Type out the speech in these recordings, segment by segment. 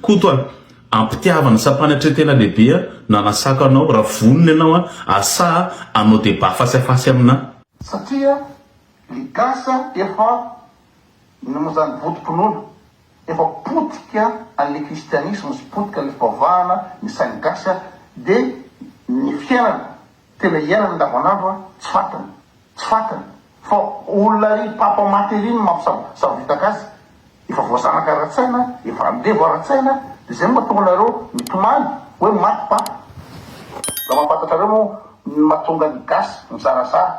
Koto a! Ampitiavana sa mpanatretena lehibe a! Nanasako anao, raha vonona ianao a! Asa a! Hanao débat face à face aminà. Satria ny gasy efa noho izany votom-pinoana, efa potika an'ilay kristianisma sy potika an'ilay fivavahana ny sain'ny gasy dia ny fiainana Tena hiainany andavanandro an, tsy fatiny, tsy fatiny, fa olona ry papa maty ery no mampisavoritaka azy, efa voazanaka ara-tsaina, efa andevo ara-tsaina, dia izay no mahatonga anareo mitomany hoe maty papa, raha mahafantatra reo moa ny mahatonga ny gasy mizarazara,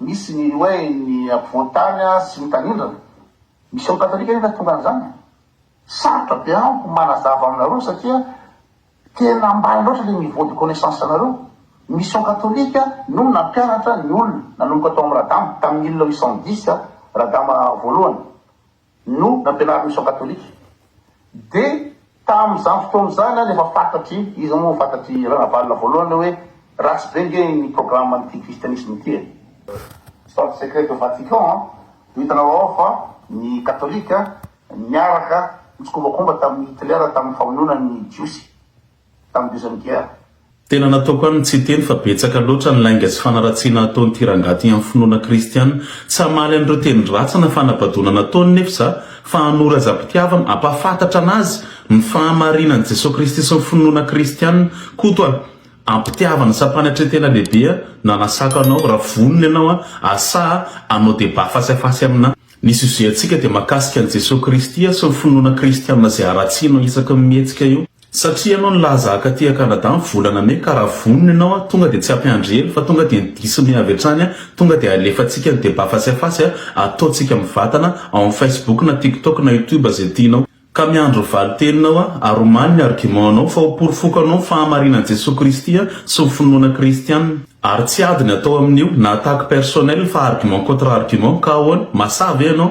misy ny hoe ny ampovoan-tany sy ny tanindrana, mission catholique anie no hahatonga an'izany, sarotra be amiko manazava aminareo satria Tena ambany loatra le niveau de connaissance nareo, mission catholique no nampianatra ny olona nanomboka tao am Radama tam mille huit cent dix Radama voalohany no nampianarin'ny mission catholique de tam zany fotoana zany an efa fantatry iza moa fantatry Ranavalona voalohany oe ratsy be nge ny programme n'ity christianisme ity e. Stade secret de Vatican an, ho hitanareo ao fa ny catholique Niaraka nitsikombakomba tamin'i Hitler tamin'ny famonoana ny Jiosy tamin'ny Deuxième Guerre. Tena nataoko any ny tsy hiteny fa betsaka loatra ny lainga sy fanaratsiana ataon'ity rangahy ity amin'ny finoana kristiana. Tsy hamaly an'ireo teny ratsy na fanabadoana nataony nefa za fa hanoro azy am-pitiavana, hampahafantatra an'azy ny fahamarinan'i Jesoa Kristy sy ny finoana kristiana. Koto a! am-pitiavana sy am-panetren-tena lehibe aho nanasako anao, raha vonona ianao an! asaha hanao débat face à face aminà. Ny sujet antsika dia mahakasika an'i Jesoa Kristy sy ny finoana kristiana izay haratsianao isaky ny mihetsika eo. Satria ianao nilaza haka aty a Canada ny volana mey ka raha vonona ianao a tonga dia tsy hampiandry ela fa tonga dia ny diso mey avy hatrany a tonga dia alefantsika ny débat face à face a ataontsika mivatana ao amin'ny facebook na tiktok na youtube izay tianao Ka miandry valin-teninao aho, ary omaly ny argument-nao, fa hoporofoko anao ny fahamarinan'i Jesoa Kristy sy ny finoana kristiana. Ary tsy ady ny atao amin'io, na attaque personnelle, fa argument contre argument, ka ahoana? Masaha ve ianao?